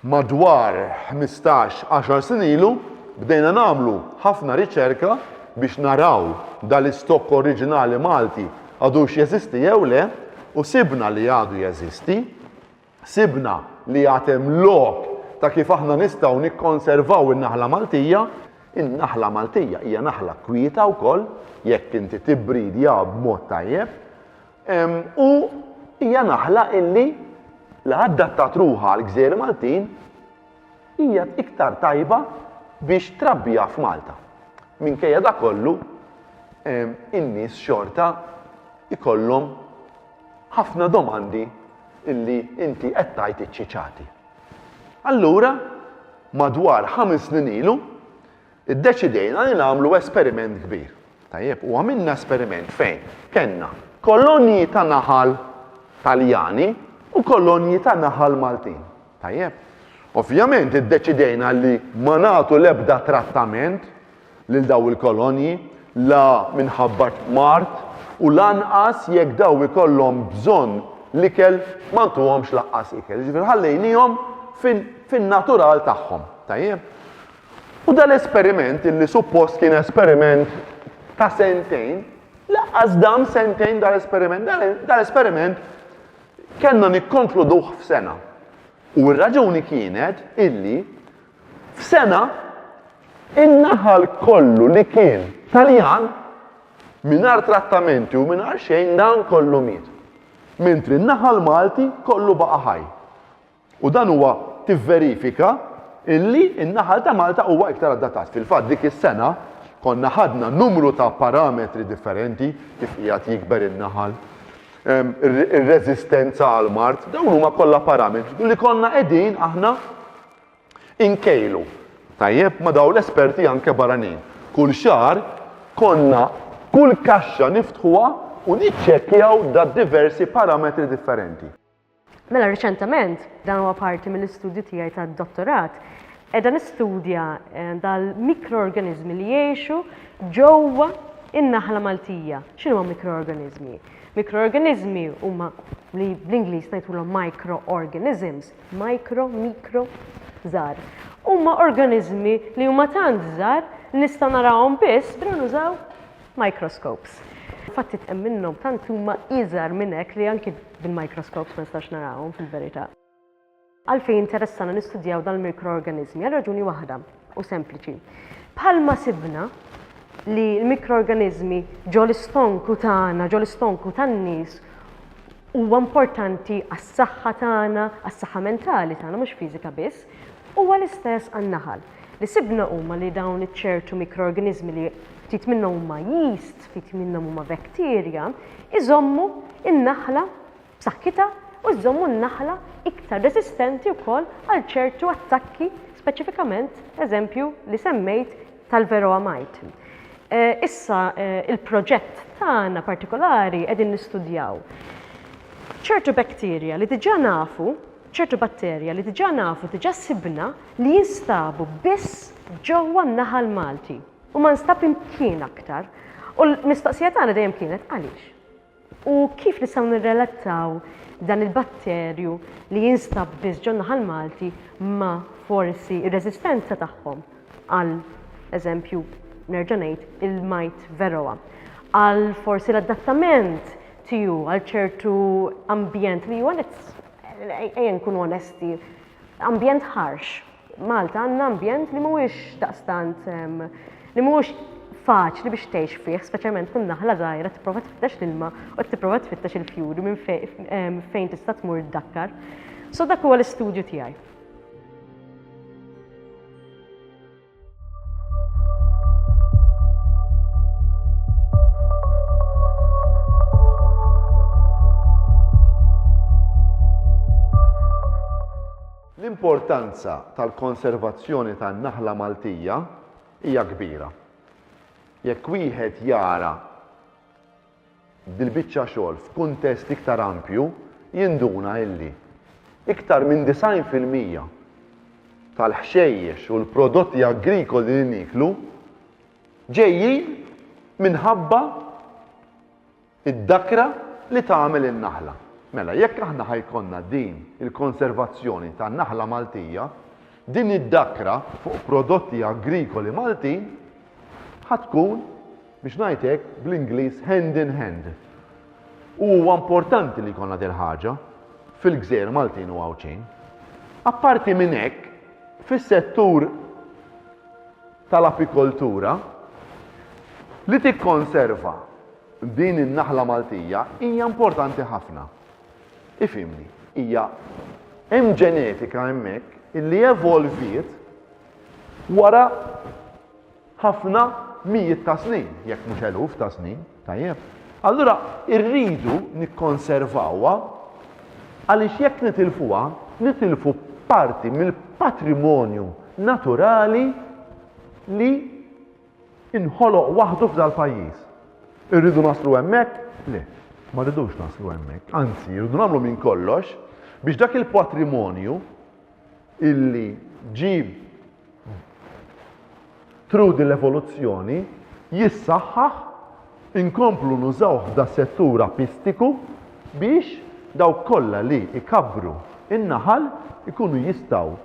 Madwar ħmistax, għaxar snin ilu, bdejna nagħmlu ħafna riċerka biex naraw dal-istokk oriġinali Malti għadux jeżisti jew le u sibna li għadu jeżisti. Sibna li għad hemm lok ta' kif aħna nistgħu nikkonservaw in-naħla Maltija. In-naħla Maltija hija naħla kwieta wkoll jekk inti tibbridja b'mod tajjeb. U hija naħla illi la addattat ruħha għal gżejjer Maltin hija iktar tajba biex trabbiha f'Malta. Minkejja da kollu, in-nies xorta ikollhom ħafna domandi illi inti qed tgħid iċċiċati. Allura, madwar ħames snin ilu, Iddeċidejna li nagħmlu esperiment kbir. Tajjeb, u għamilna esperiment fejn kellna kolonji ta' naħal Taljani u kolonji ta' naħal Maltin. Tajjeb. Ovvjament iddeċidejna li ma nagħtu l-ebda trattament lil daw il-kolonji la minħabba mart u lanqas jekk daw ikollhom bżonn l-ikel ma ntuhomx laqqas ikel. Ġifier ħallejnihom fin-natural tagħhom. Tajjeb. U dal-esperiment illi suppost kien esperiment ta' sentejn, laqqas dam sentejn dal-esperiment, dal-esperiment kellna nikkonkluduh f'sena. U r-raġuni kienet illi f'sena in-naħal kollu li kien Taljan mingħajr trattamenti u mingħajr xejn dan kollu miet. Mentri n-naħal Malti kollu baqa' ħaj. U dan huwa tivverifika illi n-naħal ta' Malta huwa iktar adattat. Fil-fatt dik is-sena konna ħadna numru ta' parametri differenti kif qiegħed jikber in-naħal, ehm, ir-reżistenza għal mart, dawn huma kollha parametri li konna qegħdin aħna inkejlu. Tajjeb ma dawn l-esperti anke barranin. Kull xar konna kull kaxxa niftħuha u niċċekkjaw da diversi parametri differenti. Mela riċentement, dan huwa parti mill-istudju tiegħi tad-dottorat, qiegħda nistudja eh, dal-mikroorganiżmi li jgħixu ġewwa in-naħla Maltija. X'inhuma mikroorganiżmi? Mikroorganiżmi huma li bl-Ingliż ngħidulhom microorganisms, micro, mikro, żgħar. Huma organiżmi li huma tant żgħar li nista' narahom biss billi nużaw Microscopes. Fatti hemm minnhom tant huma iżgħar minn hekk li anki bil-microscopes ma nistax narahom fil-verità. Għalfejn interessana nistudjaw dal-mikroorganiżmi? Għal raġuni waħda, u sempliċi. Bħalma sibna li l-mikroorganiżmi ġol-istonku tagħna, ġol-istonku tan-nies, huwa importanti għas-saħħa tagħna, għas-saħħa mentali tagħna mhux fiżika biss, huwa l-istess għan-naħal. Li sibna huma li dawn iċ-ċertu mikroorganiżmi li ftit minnhom huma yeast, ftit minnhom huma bacteria, iżommu n-naħla b'saħħitha u jżommu n-naħla iktar reżistenti wkoll għal ċertu attakki speċifikament eżempju li semmejt tal-Varroa mite. Issa il-proġett tagħna partikolari qegħdin nistudjaw ċertu bacteria li diġà nafu ċertu batterja li diġà nafu, diġà sibna li jinstabu biss ġewwa n-naħal Malti u ma nstab imkien aktar. U l-mistoqsija tagħna dejjem kienet għaliex? U kif nistgħu nirrelattaw dan il-batterju li jinstab biss ġo naħal Malti ma forsi r-reżistenza tagħhom għal eżempju nerġa' ngħid il-majt veroa għal forsi l-adattament tiegħu għal ċertu ambjent li huwa nits. Ejja nkunu onesti, ambjent ħarx. Malta għandna ambjent li mhuwiex daqstant li mhuwiex faċli biex tgħix fih, speċjalment kun naħla żgħira tipprova tfittex l-ilma u tipprova tfittex il-fjuri minn fejn tista' tmur dakkar. So dak huwa l-istudju tiegħi. L-importanza tal-konservazzjoni tan-naħla Maltija hija kbira. Jekk wieħed jara dil-biċċa xogħol f'kuntest iktar ampju, jinduna illi iktar minn 90 fil-mija tal-ħxejjex u l-prodotti agrikoli li nieklu ġejjin minħabba d-dakra li tagħmel in-naħla. Mela, jekk aħna ħa jkollna din il-konservazzjoni tan-naħla Maltija, din id-dakra fuq prodotti agrikoli Maltin ħa tkun Biex ngħid hekk, bl-Ingliż hand in hand. U huwa importanti li jkollna dil-ħaġa fil-gżejjer Maltin u Għawdxin. Apparti minn hekk, fis-settur tal-apikoltura, li tikkonserva din in-naħla Maltija hija importanti ħafna. Ifhimni, hija hemm ġenetika hemmhekk illi evolviet wara ħafna mijiet ta' snin, jekk mhux eluf ta' snin, tajjeb. Allura irridu nikkonservawha għaliex jekk nitilfuha, nitilfu parti mill-patrimonju naturali li inħoloq waħdu f'dal-pajjiż. Irridu naslu hemmhekk? Le, ma rridux naslu hemmhekk. Anzi, irridu nagħmlu minn kollox biex dak il-patrimonju illi ġie through din l-evoluzzjoni jissaħħaħ inkomplu nużawh f'das-settur apistiku biex dawk kollha li jkabbru n-naħal ikunu jistgħu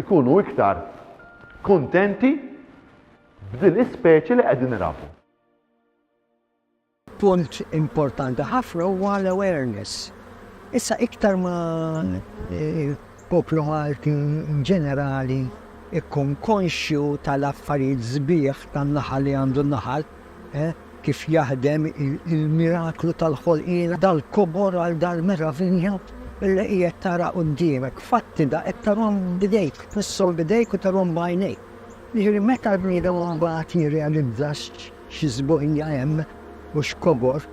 jkunu iktar kuntenti b'din l-ispeċi li qegħdin irabu. Punt importanti ħafna huwa l-awareness. Issa iktar ma l-poplu Malti inġenerali jkun konxju tal-affarijiet sbieħ tan-naħal li għandu n-naħal, kif jaħdem, il-miraklu tal-ħolqien, dal-kobor għal dal-meravilja li qiegħed tara quddiemek, fatti da qed tarahom b'idejk, tmisshom b'idejk u tarahom b'għajnejk. Jiġifieri meta l-bniedem imbagħad jirrealizza X'żbojja hemm u x'kobor!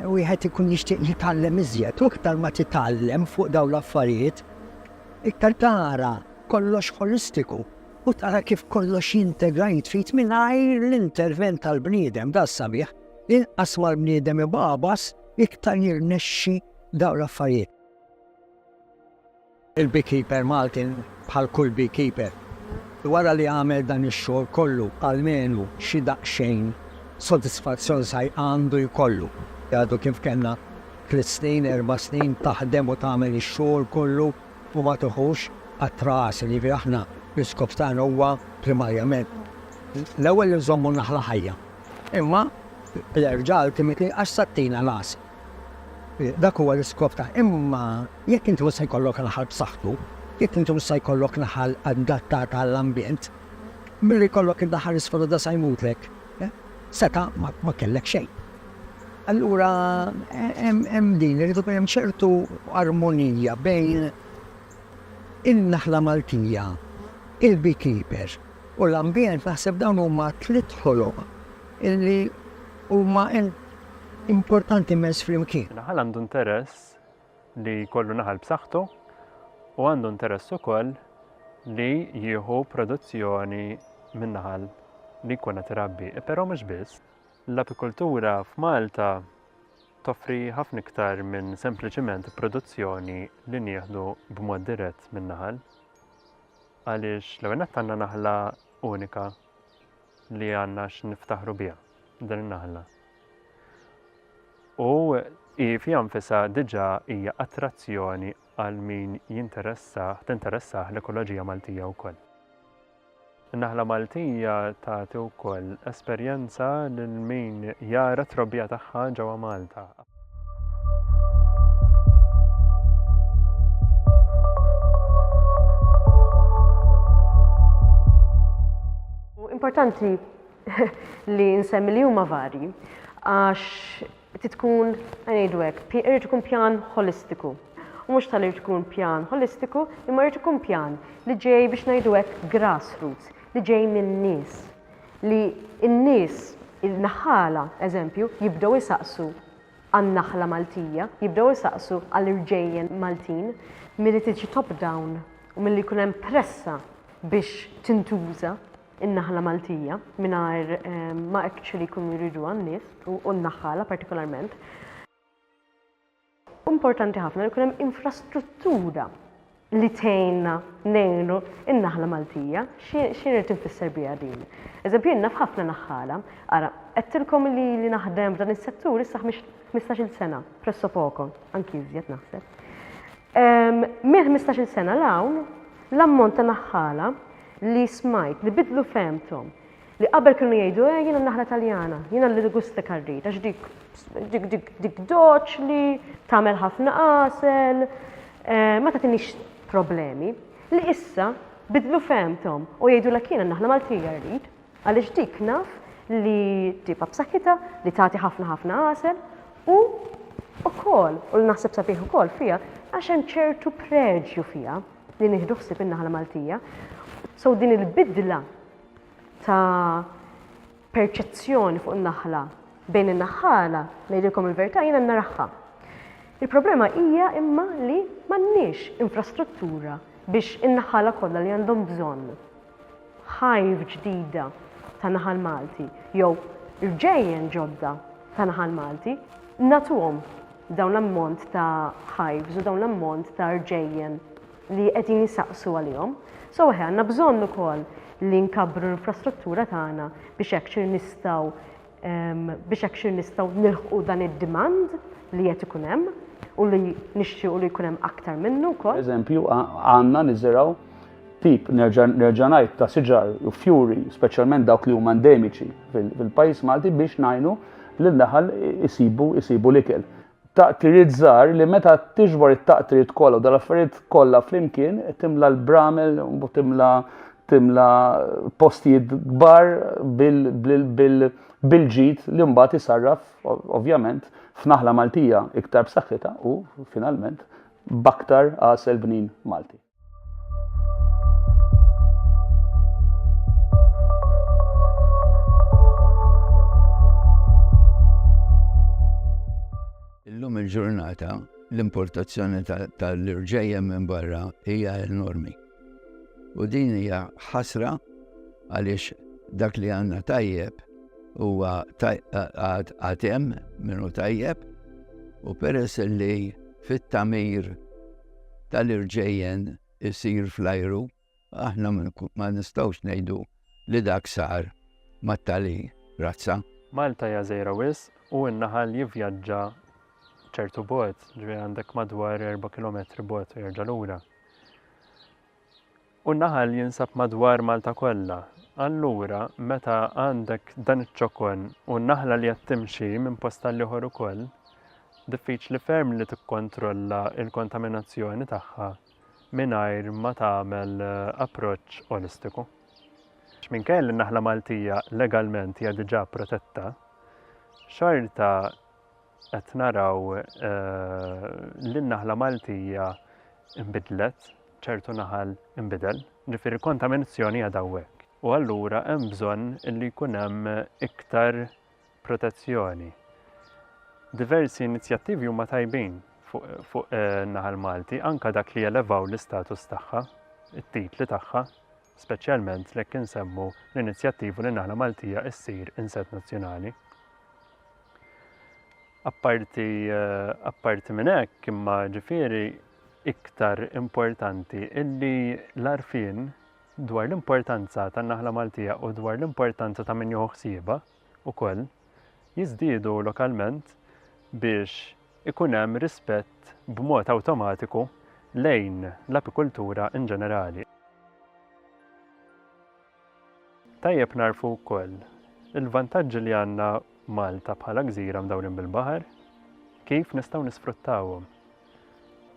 Wieħed ikun jixtieq jitgħallem iżjed u iktar ma titgħallem fuq dawn l-affarijiet, iktar tara kollox ħolistiku u tara kif kollox jintegra jitfit mingħajr l-intervent tal-bniedem. Dan sabiħ. Inqas ma l-bniedem ibagħbas, iktar jirnexxi dawn l-affarijiet. Il-beekeeper Malti bħal kull beekeeper wara li għamel dan ix-xogħol kollu almenu xi daqsxejn sodisfazzjon sa għandu jkollu. Għadu kif kellna tliet snin, erba' snin taħdem u tagħmel ix-xogħol kollu u ma tiħux qatra għasel. Jiġifieri aħna l-iskop tagħna huwa primarjament l-ewwel li nżommu n-naħla ħajja imma l-erġa' ultimately għax sa ttina l-għasel. Dak huwa l-iskop ta' Imma jekk inti mhux se jkollok naħal b'saħħtu, jekk inti mhux se jkollok naħal adattata għall-ambjent, milli jkollok id-naħal isfruda sa jmutlek, seta' ma kellek xejn. Allura hemm din, irid ikun hemm ċertu armonija bejn in-naħla Maltija, il-beekeeper u l-ambjent, naħseb dawn huma tliet ħoloq illi huma importanti immens flimkien. Naħal għandu interess li jkollu naħal b'saħħtu u għandu interess ukoll li jieħu produzzjoni min-naħal li jkun qed irabbi. Però mhux biss, l-apikultura f'Malta toffri ħafna iktar minn sempliċiment produzzjoni li nieħdu b'mod dirett min-naħal. Għaliex l-ewwel nett għandna naħla unika li għandna x'niftaħru biha din in-naħla. U hi fiha nfisha diġà hija attrazzjoni għal min jinteressah, tinteressah l-ekoloġija Maltija wkoll. In-naħla Maltija tagħti wkoll esperjenza lil min jara t-trobbija tagħha ġewwa Malta. importanti li nsemmi li huma varji għax titkun ngħidu hekk, irid ikun pjan holistiku. U mhux tal irid ikun pjan holistiku, imma irid ikun pjan li ġej biex ngħidu hekk grassroots, li ġej minn nies. li n-nies, in-naħħala, eżempju, jibdew isaqsu għan-naħla Maltija, jibdew isaqsu għall-irġejjen Maltin, milli tiġi top down u milli jkun hemm pressa biex tintuża n-naħla Maltija mingħajr ma actually jkunu jriduha n-nies u n-naħħala partikolarment. Importanti ħafna li jkun hemm infrastruttura li tgħinna ngħinu n-naħla Maltija. Xi rrid infisser biha din? Eżempju, jien naf ħafna naħħala, ara, għedtilkom li li naħdem f'dan is-settur issa 15-il sena, presso poco, anki iżjed naħseb. Ehm, minn 15-il sena l-hawn, l-ammont ta' naħħala li smajt li bidlu femtom Li qabel kienu jgħidu eh jiena n-naħla Taljana, jiena li l-gust li karrid għax dik dik dik dik doċli, tagħmel ħafna għasel, eh, ma tagħtinix problemi. Li issa bidlu fehmthom u jgħidulek jiena n-naħla Maltija rrid għaliex dik naf li tibqa' b'saħħitha, li tagħti ħafna ħafna għasel u ukoll, u naħseb sabiħ ukoll fiha, għax hemm ċertu preġju fiha li nieħdu ħsieb in-naħla Maltija. So din il-bidla ta' perċezzjoni fuq in-naħla bejn in-naħħala, ngħidilkom il-verità jiena naraħħa. Il-problema hija imma li m'għandniex infrastruttura biex in-naħħala kollha li għandhom bżonn ħajf ġdida ta' naħal Malti jew rġejjen ġodda ta' naħal Malti natuhom dawn l-ammont ta' ħajfs u dawn l-ammont ta' rġejjen li qegħdin isaqsu għalihom. So eħe għandna bżonn ukoll li nkabbru l-infrastruttura tagħna biex hekk xir nistgħu biex hekk xir nistgħu nilħqu dan id-demand li qed ikun hemm u li nixtiequ li jkun hemm aktar minnu wkoll. Eżempju, għandna niżirgħu tip nerġa' ngħid ta' siġar u fjuri, speċjalment dawk li huma endemiċi fil-pajjiż Malti biex ngħinu lil daħal isibu isibu l-ikel. Taqtiriet żgħar li meta tiġbor it-taqtiriet kollha u dal-affarijiet kollha flimkien timla l-bramel u timla timla postijiet kbar bil-ġid li mbagħad isarraf ovvjament f'naħla Maltija iktar b'saħħitha u finalment b'aktar għasel bnin Malti. Illum il-ġurnata l-importazzjoni tal-irġejjem minn barra hija enormi. U din hija ħasra għaliex dak li għandna tajjeb huwa għatem minnu tajjeb u peress li fit-tamir tal-irġejjen isir fl-ajru, aħna ma nistgħux ngħidu li dak sar mat-tali razza. Malta hija żgħira wisq u n-naħal jivvjaġġa ċertu bogħod, ġifieri għandek madwar erba' kilometri bogħod u jerġa' lura. U n-naħal jinsab madwar Malta kollha. Allura, meta għandek dan iċ-ċokon u naħla li qed timxi minn post għal ieħor ukoll, diffiċli ferm li tikkontrolla l-kontaminazzjoni tagħha mingħajr ma tagħmel approċċ olistiku. Minkejja li n-naħla Maltija legalment hija diġà protetta, xorta Qed naraw li n-naħla Maltija nbidlet, ċertu naħal inbidel, ġifieri l-kontaminazzjoni qiegħda hawnhekk. U allura hemm bżonn li jkun hemm iktar protezzjoni. Diversi inizjattivi huma tajbin fuq in-naħal Malti, anke dak li jelevaw l-istatus tagħha, it-titli tagħha, speċjalment l-hekk insemmu l-inizjattiva li n-naħla Maltija ssir insett nazzjonali. Apparti, apparti minn hekk, imma ġifieri iktar importanti illi l-arfien dwar l-importanza tan-naħla Maltija u dwar l-importanza ta' min jieħu ħsieba ukoll jiżdiedu lokalment biex ikun hemm rispett b'mod awtomatiku lejn l-apikultura in ġenerali. Tajjeb nagħrfu wkoll il-vantaġġi li għandna Malta bħala gżira mdawrin bil-baħar, kif nistgħu nisfruttawhom.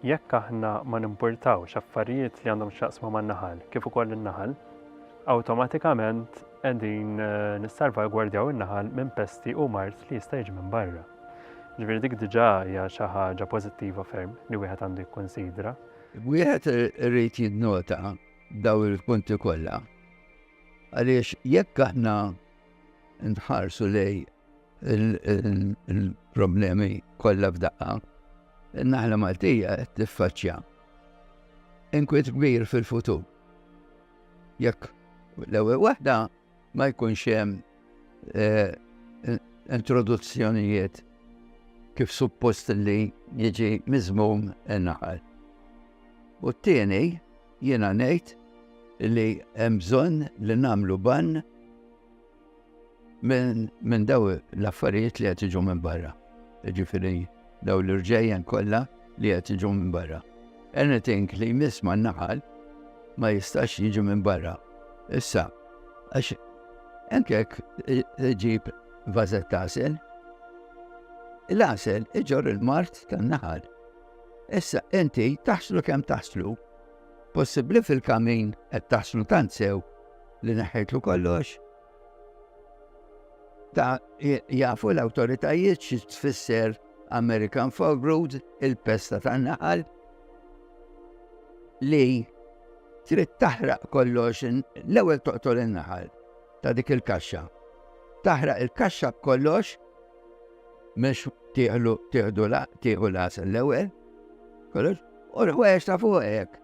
Jekk aħna ma nimpurtawx affarijiet li għandhom x'jaqsmu man-naħal kif ukoll in-naħal, awtomatikament qegħdin eh, nissalvagwardjaw in-naħal minn pesti u mart li jista' jiġi minn barra. Ġifieri dik diġà hija xi ħaġa pożittiva ferm li wieħed għandu jikkunsidra. Wieħed irid jinnota dawn il-punti kollha. Għaliex jekk aħna nħarsu lej il-problemi kollha f'daqqa, in-naħla Maltija qed tiffaċċja inkwiet kbir fil-futur. Jekk l-ewwel waħda Ma jkunx hemm eh, introduzzjonijiet kif suppost li jiġi miżmum in-naħal. U t-tieni jiena ngħid li hemm bżonn li nagħmlu ban minn min daw l-affarijiet li qed jiġu minn barra. Ġifieri daw l-irġejjen kollha li qed jiġu minn barra. Anything li jmiss ma' naħal ma jistax jiġu minn barra. Issa, għax enkek ġib vazet tasel, l-asel iġor il-mart tan-naħal. Issa, inti taħslu kem taħslu, possibli fil-kamin qed taħslu tant sew li neħħejtlu kollox, Ta' jafu l-awtoritajiet xi tfisser American Fogrood, il-pesta tan-naħal, li trid taħraq kollox l-ewwel toqtol in-naħal ta' dik il-kaxxa. Taħraq il-kaxxa b'kollox mhux tieħlu tieħdu tieħu l-għasel l-ewwel, kollox, u l-ħwejjeġ ta' fuq hekk.